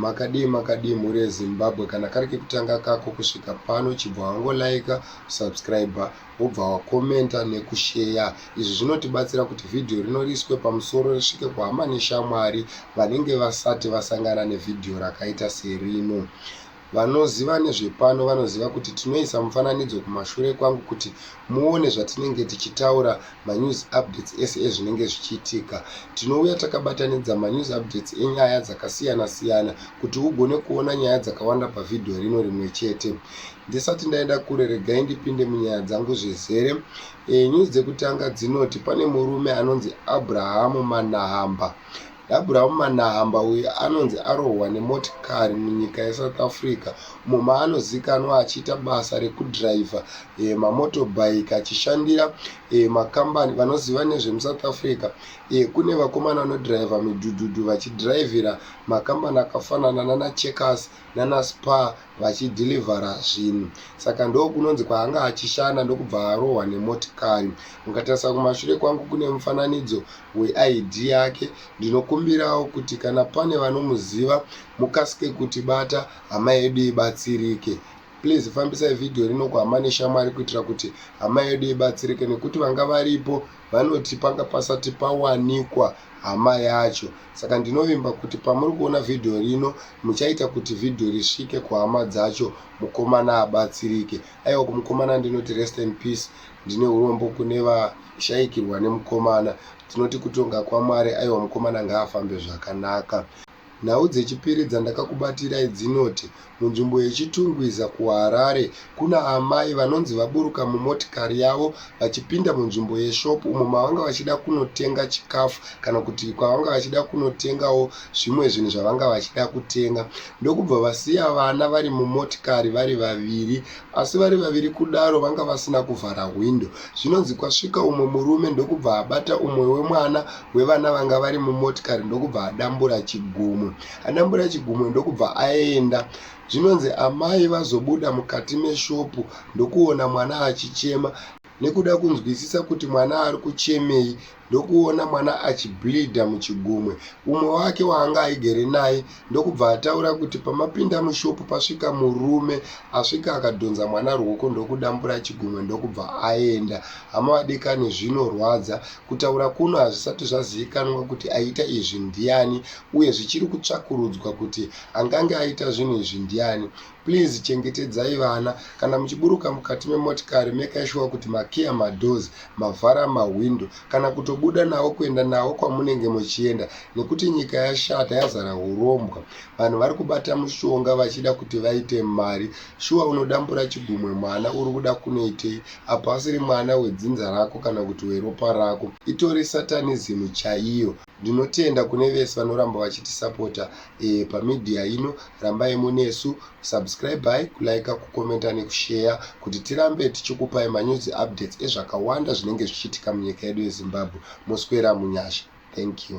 makadii makadii mhuri yezimbabwe kana kari kekutanga kako kusvika pano chibva wangolaika kusubscribe wobva wakomenta nekusheya izvi zvinotibatsira kuti vhidhiyo rino riiswe pamusoro risvike kuhama neshamwari vanenge vasati vasangana nevhidhiyo rakaita serino Vanoziva nezvepano vanoziva kuti tinoisa mufananidzo kumashure kwangu kuti muone zvatinenge tichitaura manews updates ese ezvinenge zvichiitika. Tinouya takabatanidza manews updates enyaya dzakasiyana siyana kuti ugone kuona nyaya dzakawanda pavhidhiyo rino rimwe chete. Ndisati ndaenda kure regai ndipinde munyaya dzangu zvezere. E, news dzekutanga dzinoti pane murume anonzi Abrahamu Manahamba Abraham Manahamba uyo anonzi arohwa nemotikari munyika yeSouth Africa umo maanozikanwa achiita basa rekudhiraivha e, eh, mamotobike achishandira e, makambani vanoziva nezvemusouth Africa e, kune vakomana vanodhiraivha midhudhudhu vachidhiraivhira makambani akafanana nana Checkers nana Spar vachi deliver zvinhu saka ndokunonzi kwaanga achishanda ndokubva arohwa nemotikari. Mukatarisa kumashure kwangu kune mufananidzo weID yake. Ndinokumbirawo kuti kana pane vanomuziva mukasike kutibata hama yedu ibatsirike. Please fambisai video rino kuhama neshamwari kuitira kuti hama yedu ibatsirike nekuti vanga varipo vanoti panga pasati pawanikwa hama yacho saka ndinovimba kuti pamuri kuona vhidhiyo rino muchaita kuti vhidhiyo risvike kuhama dzacho mukomana abatsirike aiwa kumukomana ndinoti rest in peace ndine urombo kune vashaikirwa nemukomana tinoti kutonga kwamwari aiwa mukomana ngaafambe zvakanaka Nhau dzechipiri dzandakakubatirai dzinoti munzvimbo yeChitungwiza kuHarare kuna amai vanonzi vaburuka mumotikari yavo vachipinda munzvimbo yeshopu umo mavanga vachida kunotenga chikafu kana kuti kwavanga vachida kunotengawo zvimwe zvinhu zvavanga vachida kutenga ndokubva vasiya vana vari mumotikari vari vaviri Asi vari vaviri kudaro vanga vasina kuvhara hwindo. Zvinonzi kwasvika umwe murume ndokubva abata umwe wemwana wevana vanga vari mumotikari ndokubva adambura chigumwe. Adambura chigumwe ndokubva aenda. Zvinonzi amai vazobuda mukati meshopu ndokuona mwana achichema. nekuda kunzwisisa kuti mwana ari kuchemei ndokuona mwana achibleedha muchigumwe umwe wake waanga aigere naye ndokubva ataura kuti pamapinda mushopu pasvika murume asvika akadhonza mwana rwoko ndokudambura chigumwe ndokubva aenda hama vadikani zvinorwadza kutaura kuno hazvisati zvazivikanwa kuti aita izvi ndiani uye zvichiri kutsvakurudzwa kuti angange aita zvinhu izvi ndiani Please chengetedzai vana. Kana muchiburuka mukati memotikari mekai shuwa kuti makiya madoors, mavhara mahwindo kana kutobuda navo kuenda navo kwamunenge muchienda nekuti nyika yashata yazara hurombwa. Vanhu vari kubata mushonga vachida kuti vaite mari. Shuwa unodambura chigumwe mwana uri kuda kunoitei apo asiri mwana wedzinza rako kana kuti weropa rako. Itori satanism chaiyo. Ndinotenda kune vese vanoramba vachitisapota eh, pamedia ino rambai munesu subscribai kulaika kukomenta nekusheya kuti tirambe tichikupai manews updates ezvakawanda zvinenge zvichiitika munyika yedu yezimbabwe moswera munyasha thank you